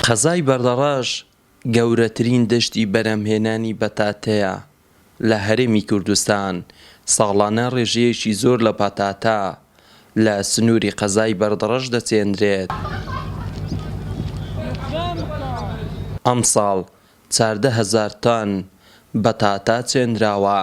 قەزای بەردەڕەش گەورەترین دەشتی بەرهەمهێنانی بەتاتەیە لە هەرێمی کوردستان، ساڵانە ڕێژەیەکی زۆر لە پەتاتە لە سنووری قەزای بەردەڕەش دەچێنرێت، ئەمساڵ چاردە هەزار تۆن بەتاتە چێنراوە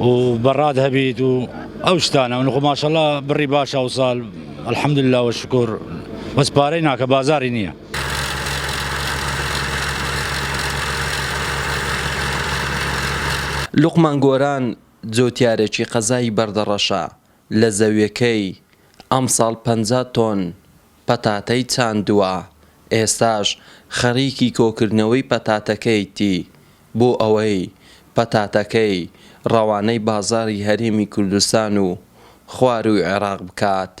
و بەڕاد هەبیت و ئەو شتانە ونخۆ ماشەڵا بڕی باش ئەوسال الحمد لله وشکر بەس پارەی ناکە بازاری نییە. لوقمان گۆران جوتیارێکی قەزای بەردەڕەشە لە زەویەکەی ئەمساڵ پەنجا تۆن پەتاتەی چاندووە، ئێستاش خەریکی کۆکردنەوەی پەتاتەکەیتی بۆ ئەوەی پەتاتەکەی ڕەوانەی بازاڕی هەرێمی کوردستان و خوارووی عێراق بکات.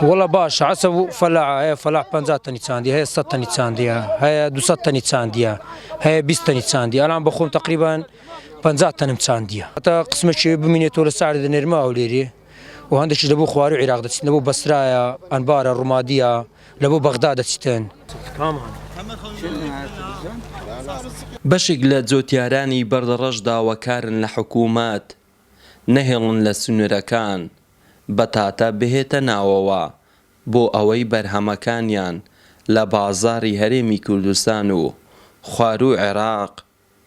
وەڵا باشە عەسە و فەلاحە هەیە فەلاح پەنجا تەنی چاندیە هەیە سەد تەنی چاندیە هەیە دوو سەد تەنی چاندیە هەیە بیست تەنی چاندیە ئەلان بەخۆم تەقریبەن پەنجا تەنم چاندیە. هەتا قسمەکێ بمینێتەوە لە سەعرێ دەنێرمە هەولێرێ و هەندێکیش لەبۆ خوار و عیراق دەچیتن، لەبۆ بەسرایە، ئەنبارە، ڕومادییە، لەبۆ بەغدا دەچیتن. بەشێک لە جۆتیارانی بەردەڕەش داواکارن لە حکوومەت نەهێڵن لە سنوورەکان بەتاتە بهێتە ناوەوە بۆ ئەوەی بەرهەمەکانیان لە بازاڕی هەرێمی کوردستان و خواروو عێراق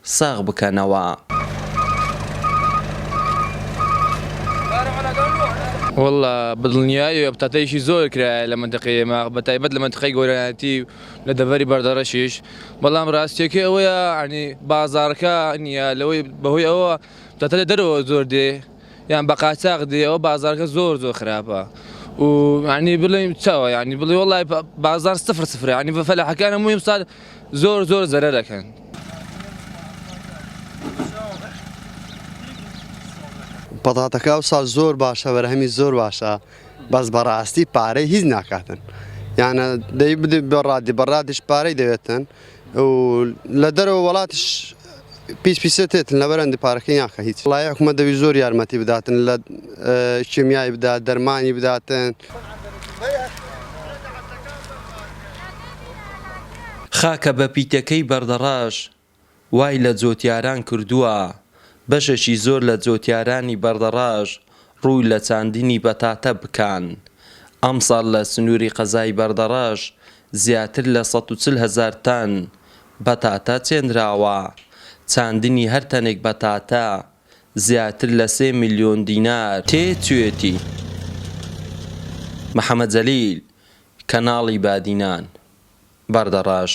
ساغ بکەنەوە. وەللە بەدڵنیایی و بتاتەیشی زۆر کرایە لە مەنتەقەی ئێمە بە تایبەت لە مەنتەقەی گۆرانیاتی و لە دەڤەری بەردەڕەشیش بەڵام ڕاستیەکەی ئەوەیە یانی بازاڕەکە نیە لەوەی بەهۆی ئەوە بتاتە لە دەرەوە زۆر دێ یان بە قاچاغ دێ ئەوە بازاڕەکە زۆر زۆر خراپە و یانی بڵێم چاوە یانی بڵێ وەڵای بازاڕ سفر سفرە یانی بە فەلاحەکانە موویم سال زۆر زۆر زەرەر دەکەن. پەتاتەکە ئەوسا زۆر باشە بەرهەمی زۆر باشە بەس بەڕاستی پارەی هیچ ناکاتن یانە دەی بدە بەڕادی بەڕادیش پارەی دەوێتن و لە دەرەوە وڵاتش پیس پیسە تێتن لە بەرەندی پارەکەی ناکە هیچ وڵای حکومە دەوی زۆر یارمەتی بداتن لە کیمیایی بدا دەرمانی بداتن. خاکە بە پیتەکەی بەردەڕەش وای لە جۆتیاران کردووە، بەشێکی زۆر لە جۆتیارانی بەردەڕەش ڕووی لە چاندنی پەتاتە بکان، ئەمساڵ لە سنووری قەزای بەردەڕەش زیاتر لە سەد و چل هەزار تەن پەتاتە چێنراوە، چاندنی هەر تەنێک پەتاتە زیاتر لە سێ ملیۆن دینار تێچوویەتی. محەمەد جەلیل، کەناڵی بادینان، بەردەڕەش.